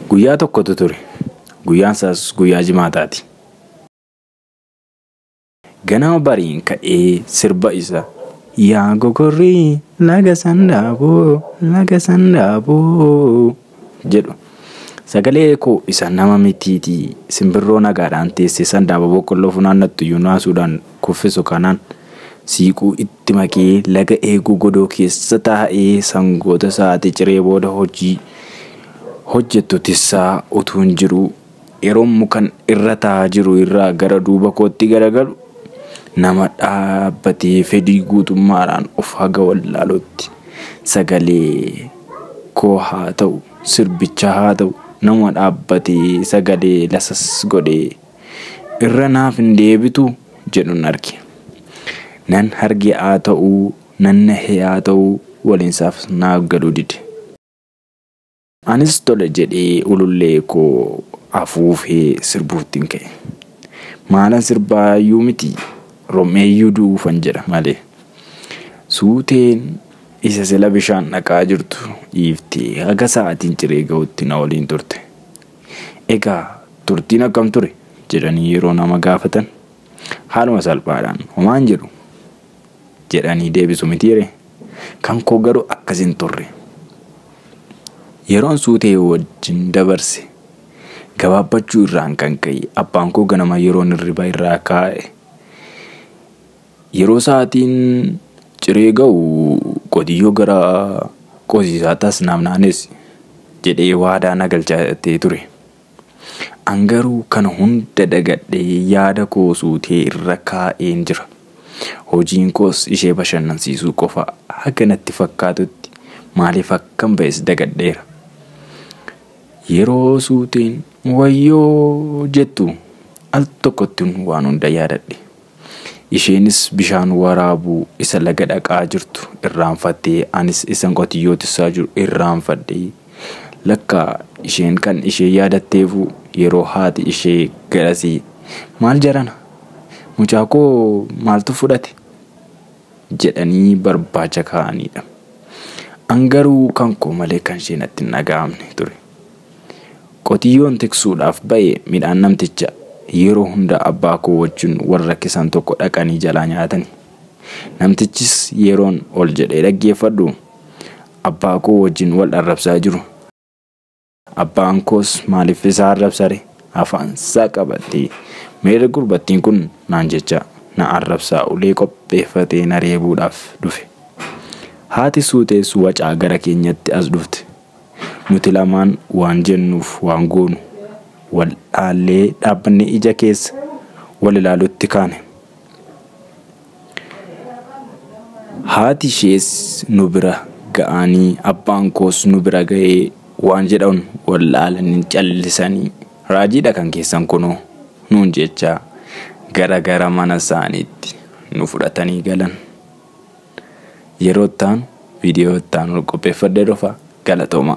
Guyyaa tokkotu ture. Guyyaan isaas guyyaa jimaataati. Ganama bariin ka'ee sirba isa. Yaa gogorrii laga sandaaboo laga sandaaboo jedhu. Sagalee koo isa nama mitiitii simbirroo nagaadhaan teessee sandaaboo boqqolloo funaannattu iyyuu naasuudhaan kuffisu kanaan siiquu itti itti maki laga eeguu godoo keessa taa'ii sangoota sa'aatii ciree booda hojii hojjettu tissaa utuun jiruu yeroon mukan irra taa'aa jiru irraa gara duuba kootti garagalu nama dhaabbatee fedhii guutummaadhaan of haga wallaaluutti sagalee koo haa ta'u sirbicha haa ta'u nama dhaabbatee sagalee lasas godhee irra naaf hin deebitu jedhun arge. Nan harge haa ta'u, nan nahe haa ta'u waliinsaaf naaf galuu dide. Anis tole jedhee ulullee koo afuufee sirbuuttin ka'e. Maalan sirbaa iyyuu miti rom'ee iyyuu du'uufan jedha malee. Suuteen isa sila bishaan dhaqaa jirtu dhiiftee haga sa'aatiin ciree ga'utti na waliin turte. Egaa turtiin akkam ture? jedhanii yeroo nama gaafatan, haaluma salphaadhaan homaa hin jedhu jedhanii deebisu mitiiree? Kan koo garuu akkas hin turre. Yeroon suutee wajjin dabarse gabaabbachuu irraan kan ka'e abbaan koo ganama yeroon hirriba irraa kaa'e Yeroo sa'aatiin ciree ga'u qotiyyoo gara qosiisaatti as naaf naannessi jedhee waadaa na galchatee ture. An garuu kana hunda dagadhee yaada koo suutee irra kaa'een jira. Hojiin koos ishee bashannansiisuu qofa haga natti fakkaatutti maaliif akkan ba'es dagadheera. Yeroo suuteen wayyoo jettu al tokkottin waan hunda yaadadhe. Isheenis bishaan waraabuu isa laga dhaqaa jirtu irraanfatte, anis isan qotiyyoo tissaa jiru irraanfadhe. Lakka isheen kan ishee yaadatteefuu yeroo haati ishee garasii maal jarana? Mucaa koo maaltu fudhate? jedhanii barbaacha kaa'aniidha. An garuu kan koo malee kan ishee natti hin dhaga'amne ture. Qotiyyoon tiksuudhaaf ba'e midhaan namticha yeroo hunda abbaa koo wajjin wal rakkisan tokko dhaqanii jalaa nyaatani. Namtichis yeroon ol jedhee dhaggeeffadhu abbaa koo wajjin wal arrabsaa jiru. Abbaan koos maaliif isaa arrabsare afaan isaa qabatee meerre gurbattiin kun naan jecha na arrabsaa ulee qopheeffatee na reebuudhaaf dhufe. Haati suutees wacaa gara keenyatti as dhufte. Nuti lamaan waan jennuuf waan goonu wal dhaallee dhaabbannee ija keessa wal ilaaluutti kaane. Haati ishees nu bira ga'anii abbaan koos nu bira ga'ee waan jedhan wal dhaalanii callisanii raajiidha kan keessan kunoo nuun jechaa gara gara mana isaaniitti nu fudhatanii galan. Yeroo itti aanu viidiyoo itti aanu qopheeffadhee dhufa. Galatooma!